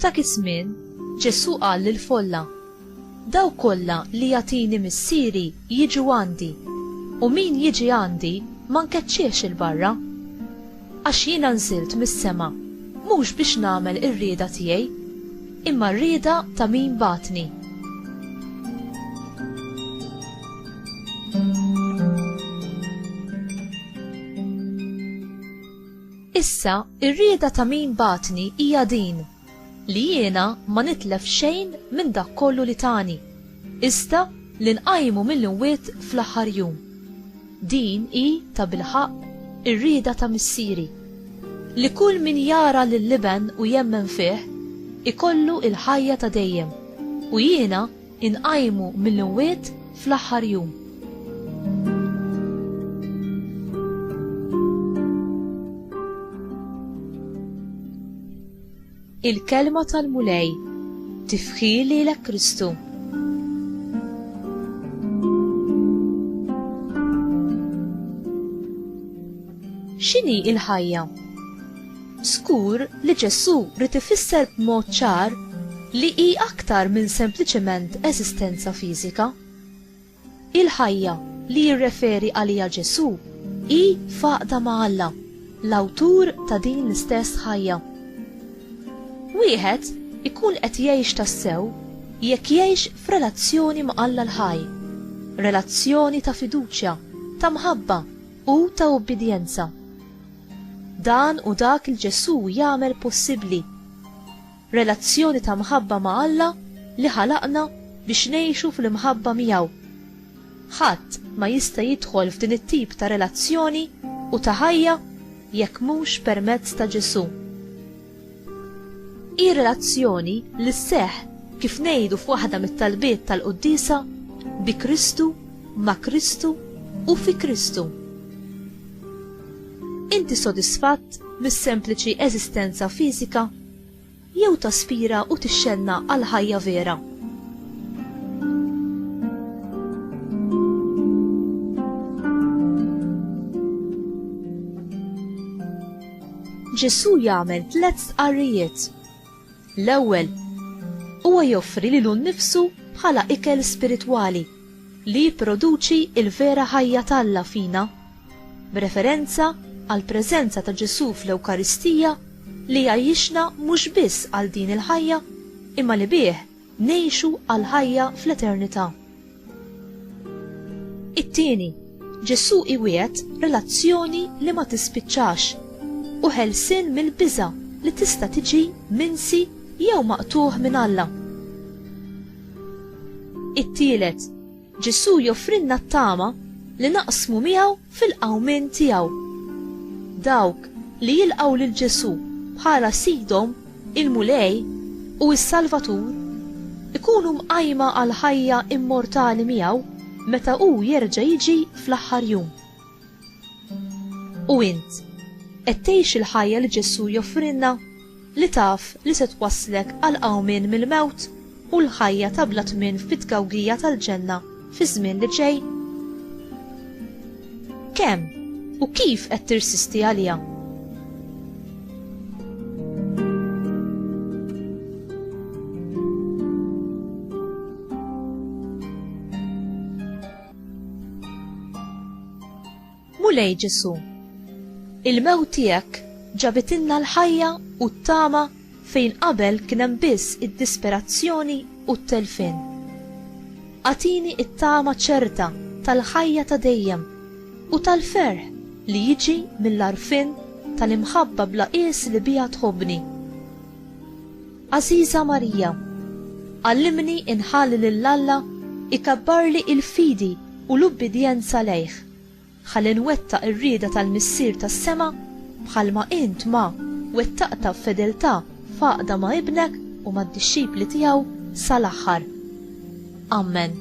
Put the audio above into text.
F'dak iż-żmien, Ġesù qal lill-folla, Daw kollha li jagħtini Missieri jiġu għandi, u min jiġi għandi ma nkeċċiex il-barra. Għax jiena nżilt mis-sema, mhux biex nagħmel ir-rieda tiegħi, imma r-rieda ta' min bagħatni. Issa, ir-rieda ta' min bagħatni hija din. li jiena ma nitlef xejn minn dak kollu li tani, iżda li nqajmu mill-imwiet fl-aħħar jum. Din hi, tabilħaqq, ir-rieda ta' Missieri, li kull min jara lill-Iben u jemmen fih, ikollu l-ħajja ta' dejjem, u jiena Inqajmu mill-imwiet fl-aħħar jum. Il-kelma tal-Mulej tifħi lilek Kristu. X'inhi il-ħajja? Żgur li Ġesù ried ifisser b'mod ċar li hi aktar minn sempliċement eżistenza fiżika. Il-ħajja li jirreferi għaliha Ġesù hi f'għaqda ma' Alla, l-Awtur ta' din l-istess ħajja. Wieħed ikun qed jgħix tassew jekk jgħix f'relazzjoni ma' Alla l-ħaj, relazzjoni ta' fiduċja, ta' mħabba, u ta' ubbidjenza. Dan hu dak li Ġesù jagħmel possibbli. Relazzjoni ta' mħabba ma' Alla li ħalaqna biex ngħixu fl-imħabba miegħu. Ħadd ma jista' jidħol f'din it-tip ta' relazzjoni u ta' ħajja jekk mhux permezz ta' Ġesù. Hi relazzjoni li sseħħ, kif ngħidu f'waħda mit-talbiet tal-quddiesa, bi Kristu, ma' Kristu u fi Kristu. Inti sodisfatt mis-sempliċi eżistenza fiżika jew taspira u tixxenna għal ħajja vera? Ġesù jagħmel tliet stqarrijiet. L-ewwel, huwa joffri lilu nnifsu bħala ikel spiritwali li jipproduċi l-vera ħajja t'Alla fina, b'referenza għall-preżenza ta' Ġesù fl-Ewkaristija li jgħajjixna mhux biss għal din il-ħajja imma li bih Ngħixu għall-ħajja fl-eternità. It-tieni, Ġesù iwiegħed relazzjoni li ma tispiċċax u ħelsien mill-biża' li tista' tiġi minsi jew maqtugħ minn Alla. It-tielet, Ġesù joffrilna t-tama li naqsmu miegħu fil-qawmien tiegħu. Dawk li jilqgħu lil Ġesù bħala Sidhom, il-Mulej, u s-Salvatur, ikunu mqajma għall-ħajja immortali miegħu meta hu jerġa' jiġi fl-aħħar jum. U int, qed tgħix il-ħajja li Ġesù joffrilna? li taf li se twasslek għal qawmien mill-mewt u l-ħajja ta' bla tmien fit-tgawgija tal-ġenna fiż-żmien li ġej? Kemm u kif qed tirsisti għaliha? Mulej Ġesù, il-mewt tiegħek ġabitilna l-ħajja u t-tama fejn qabel kien hemm biss id-disperazzjoni u t-telfien. Agħtini t-tama ċerta tal-ħajja ta' dejjem u tal-ferħ li jiġi mill-għarfien tal-imħabba bla qies li biha tħobbni. Għażiża Marija, għallimni inħalli lil Alla ikabbarli l-fidi u l-ubbidjenza lejh. Ħalli nwettaq ir-rieda tal-Missier tas-sema, bħalma int ma, wettaqtha b'fedeltà f'għaqda ma' Ibnek u mad-dixxipli tiegħu sal-aħħar. Ammen.